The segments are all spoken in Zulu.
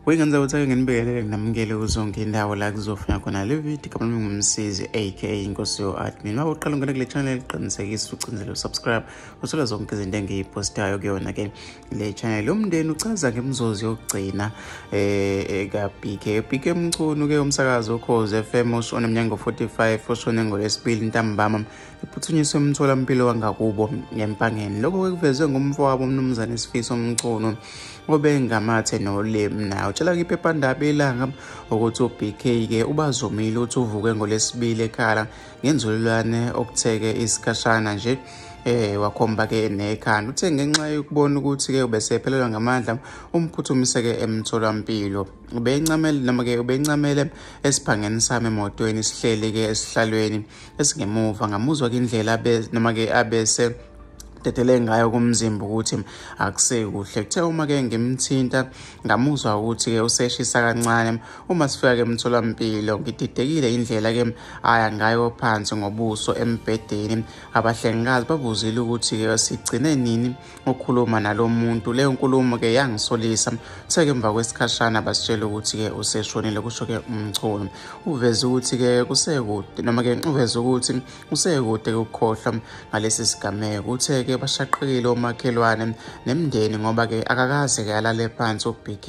Wekanza utake ngenibekele nginamukele kuzonke indawo la kuzofika khona le video kama ngumsizi aka inkosi yo admin uma uqala ungena kule channel qinisekisa ucindezela usubscribe uthola zonke izinto engiyipostayo kuyona ke le channel umndeni uchaza ngemzozi yokugcina eh, eh kaBK BK Mchunu ke umsakazi okhoze FM oshona emnyango 45 oshone ngolesibili ntambama iphuthunyiswe emtholampilo wangakubo ngempangeni lokho kwekuvezwe ngumfowabo umnumzane Sifiso Mchunu obengamathe nolimi naye utshela kwiphephandaba ilanga ukuthi uBK ke ubazomile uthi uvuke ngolesibili ekhala ngenzululwane okutheke isikhashana nje eh wakhomba ke nekhanda uthe ngenxa yokubona ukuthi ke ubesephelelwa ngamandla umphuthumise ke emtholampilo ubencamele noma ke ubencamele esiphangeni sami emotweni sihleli ke esihlalweni esingemuva ngamuzwa ke indlela noma ke abese dedele ngayo kumzimba ukuthi akusekuhle kuthe uma ke ngimthinta ngamuzwa ukuthi ke useshisa kancane uma sifika ke emtholampilo ngididekile indlela ke aya ngayo phansi ngobuso embhedeni abahlengikazi babuzile ukuthi ke sigcine nini ukukhuluma nalomuntu leyo nkulumo ke yangisolisa uthe ke emva kwesikhashana basitshela ukuthi ke useshonile kusho ke umchunu uveze ukuthi ke kusekude noma ke uveze ukuthi Usekude ukukhohlwa ngalesi sigameko. Uthe-ke bashaqekile omakhelwane nemndeni ngoba-ke akakaze-ke alale phansi uBK.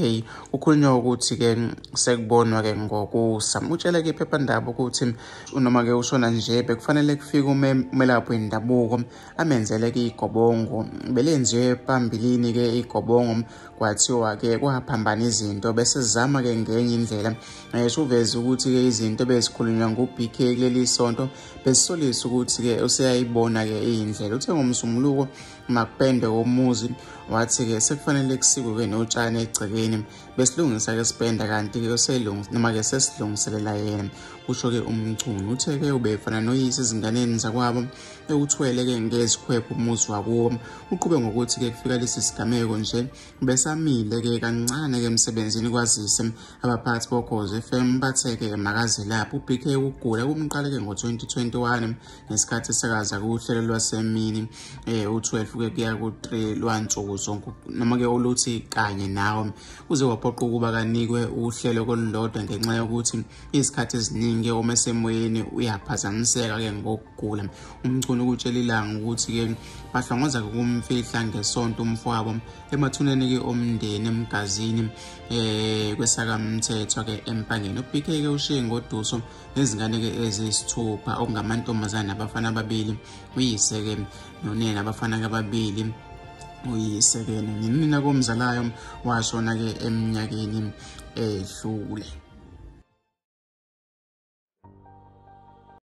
Kukhulunywa ukuthi-ke sekubonwa-ke ngokusa. Utshele-ke iphephandaba ukuthi noma-ke ushona nje bekufanele kufike umelaphi wendabuko amenzele-ke igobongo. Belenziwe phambilini-ke igobongo kwathiwa-ke kwaphambana izinto bese sizama-ke ngenye indlela ngisho uveze ukuthi-ke izinto bezikhulunywa ngu-bk kuleli sonto besisolisa ukuthi-ke useyayibona-ke iyindlela uthe ngomsumuluko makupende komuzi wathi-ke sekufanele kusikwe-ke notshani egcekeni besilungisa-ke sipenda kanti-ke noma-ke sesilungiselela yena kusho-ke umcuni uthe-ke ubefana noyise ezinganeni zakwabo ewuthwele ke ngezikhwephu umuzi wakuwo uqhube ngokuthi ke kufika lesi sigameko nje besamile ke kancane ke emsebenzini kwazise abaphathi bogozi FM bathe ke makaze lapho uBK ukugula kumqale ke ngo-2021 ngesikhathi esakaza kuhlelo lwasemini eh u12 ke kuya ku3 lwansuku zonke noma ke oluthi kanye nawo uze waphoqa ukuba kanikwe uhlelo kolulodwa ngenxa yokuthi izikhathi eziningi uma esemoyeni uyaphazamiseka ke ngokugula umchunu ukutshela ilanga ukuthi ke bahlongoza kumfihla ngesonto umfowabo emathuneni ke omndeni emgazini eh kwesakamthetho ke empangeni uBK ke ushiye ngoduso nezingane ke ezisithupha okungamantombazana abafana ababili uyise ke nonina abafana ke ababili uyisekele ngenina komzalayo washona-ke eminyakeni edlule.